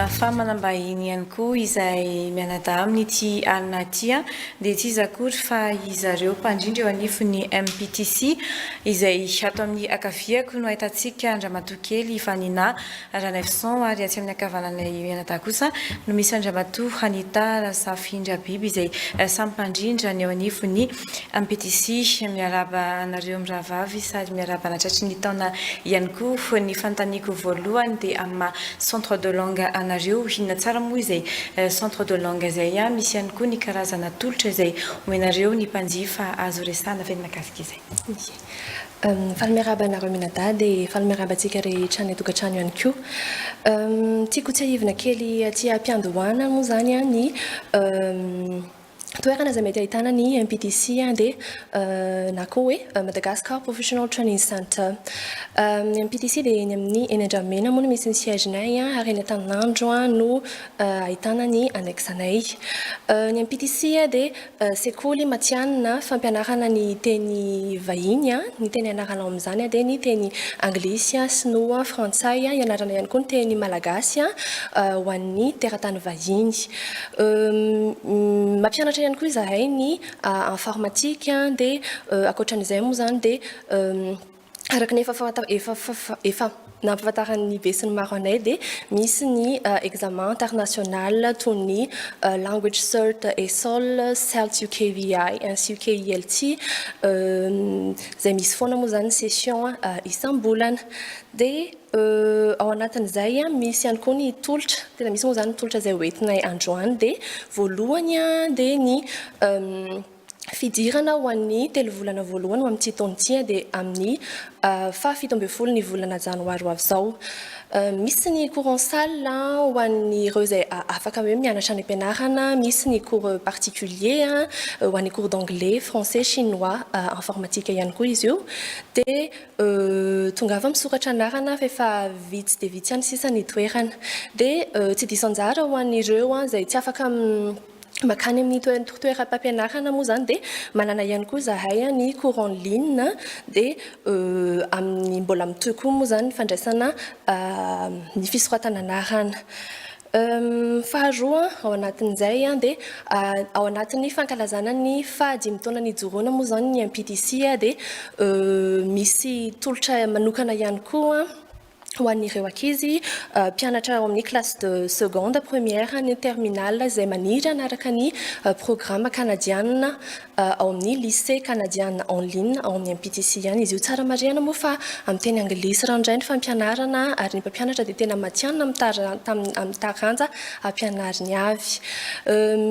fa manambahiny ihany koa izay mianadahy amin'ity alina ity dia tsy iza akory fa izareo mpandrindra eo anivon'ny MPTC izay ato amin'ny akaviako no ahitantsika Andriamatoa Kely Vanina Ranaivoson ary atsy amin'ny ankavananay mianadahy kosa no misy an-dRamatoa Hanita Razafindrabiby izay samy mpandrindra ny eo anivon'ny MPTC. Miarahaba anareo mirahavavy sady miarahaba anatratry ny taona ihany koa. Ny fanontaniako voalohany dia amin'ny maha centre de langue anareo, inona tsara moa izay centre de langue izay? Misy ihany koa ny karazana tolotra izay omenareo ny mpanjifa azo resahana ve ny mahakasika izay? Faly miarahaba anareo Minada dia faly miarahaba antsika rehetra any an-tokantrano ihany koa. Tiako tsiahivina kely aty am-piandohana moa izany ny toerana izay mety ahitana ny MPTC dia na koa hoe Madagascar Professional Training Center. Ny MPTC dia eny amin'ny eny Andramena moa no misy ny siège-nay ary eny Antaninandro no ahitana ny annexe-nay. Ny MPTC dia Sekoly matihanina fampianarana ny teny vahiny. Ny teny ianarana ao amin'izany dia ny teny anglisy, sinoa, frantsay. Ianarana ihany koa ny teny malagasy ho an'ny teratany vahiny. Mampianatra ihany koa izahay ny informatika. Dia ankoatra an'izay moa izany dia araka ny efa fanta- efa fa- fa- efa nampahafantaran'ny be sy ny maro anay dia misy ny eh, examen international toy ny eh, language cert esol celt ukvi ainsi ukilt euh, izay misy foana moa izany ny session eh, isam-bolana dia eh, ao anatin'izay ah, misy ihany koa ny tolotra tena misy moa izany ny tolotra izay hoentinay androany dia voalohany ah, dia ny em, fidirana ho an'ny telo volana voalohany ho amin'ity taona ity dia amin'ny faha fito ambin'ny folo ny volana janoary ho avy izao. Misy ny cours en salle ho an'ireo izay afaka hoe mianatra any am-pianarana, misy ny cours particulier ho an'ny cours d'anglais, français, chinois, informatique ihany koa izy io. Dia tongava misoratra anarana fa efa vitsy dia vitsy ihany sisa ny toerana. Dia tsy diso anjara ho an'ireo izay tsy afaka makany amin'ny toeram-pampianarana moa izany dia manana ihany koa izahay ny cours en ligne dia amin'ny mbola mitohy koa moa izany ny fandraisana ny fisoratana anarana. Faharoa ao anatin'izay dia ao anatin'ny fankalazana ny faha dimy taona nijoroana moa izany ny MPTC dia misy tolotra manokana ihany koa ho an'ireo ankizy mpianatra ao amin'ny classe de seconde, première ny terminale izay maniry hanaraka ny programa kanadianina ao amin'ny lycée kanadianina en ligne ao amin'ny MPTC ihany izy io. Tsara marihana moa fa amin'ny teny anglisy ranoray ny fampianarana ary ny mpampianatra dia tena matihanina amin'ny taranja ampianariny avy.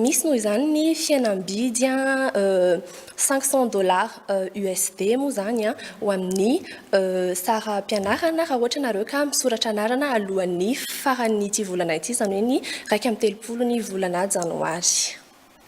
Misy noho izany ny fihenam-bidy Cinq cents dollars USD moa izany ho amin'ny saram-pianarana raha ohatra ianareo ka misoratra anarana alohan'ny faran'ity volana ity, izany hoe ny iraika amby telopolo ny volana janoary.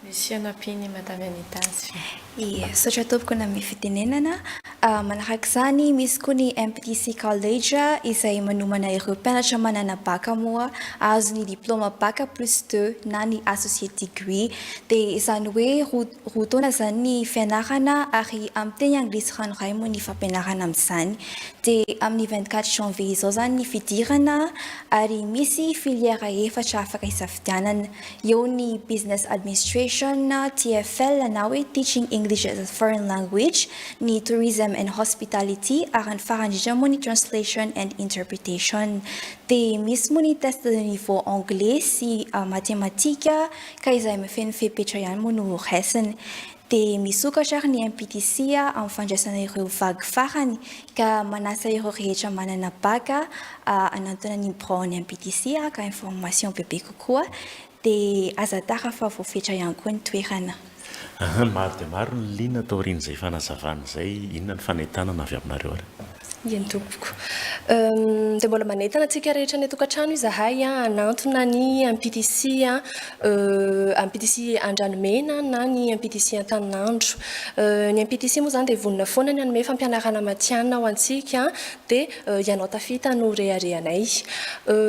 Misy fianampian'i Madame Anita azy ve? Ie, misaotra tompoko nanome fitenenana. Manaraka izany, misy koa ny MPTC College izay manomana ireo mpianatra manana bacc moa hahazo ny diplaoma bacc plus deux na ny associate degree, dia izany hoe roa Roa taona izany ny fianarana ary amin'ny teny anglisy ranoray moa ny fampianarana amin'izany. Dia amin'ny vingt quatre janvier izao izany ny fidirana ary misy filière efatra afaka isafidianana. Eo ny Business Administration, TEFL na hoe Teaching English as a Foreign Language, ny Tourism and Hospitality ary ny farany indrindra moa ny Translation and Interpretation. Dia misy moa ny test de niveau anglais sy matematika Ka izay mifehy fepetra ihany moa no ho raisiny. Dia misokatra ary ny MPTC amin'ny fandraisana ireo vague farany ka manasa ireo rehetra manana bac hanantona ny biraon'ny MPTC haka information bebe kokoa. Dia aza tara fa voafetra ihany koa ny toerana. Ahaa, maro dia maro ny liana taorian'izay fanazavana izay, inona ny fanentanana avy aminareo ary? Eny tompoko. Dia mbola manentana antsika rehetra any an-tokantrano izahay hanantona ny MPTC MPTC Andranomena na ny MPTC Antaninandro. Ny MPTC moa izany dia vonona foana ny hanome fampianarana matihanina ho antsika dia ianao tafita no reharehanay.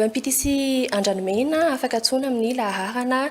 MPTC Andranomena afaka antsoina amin'ny laharana.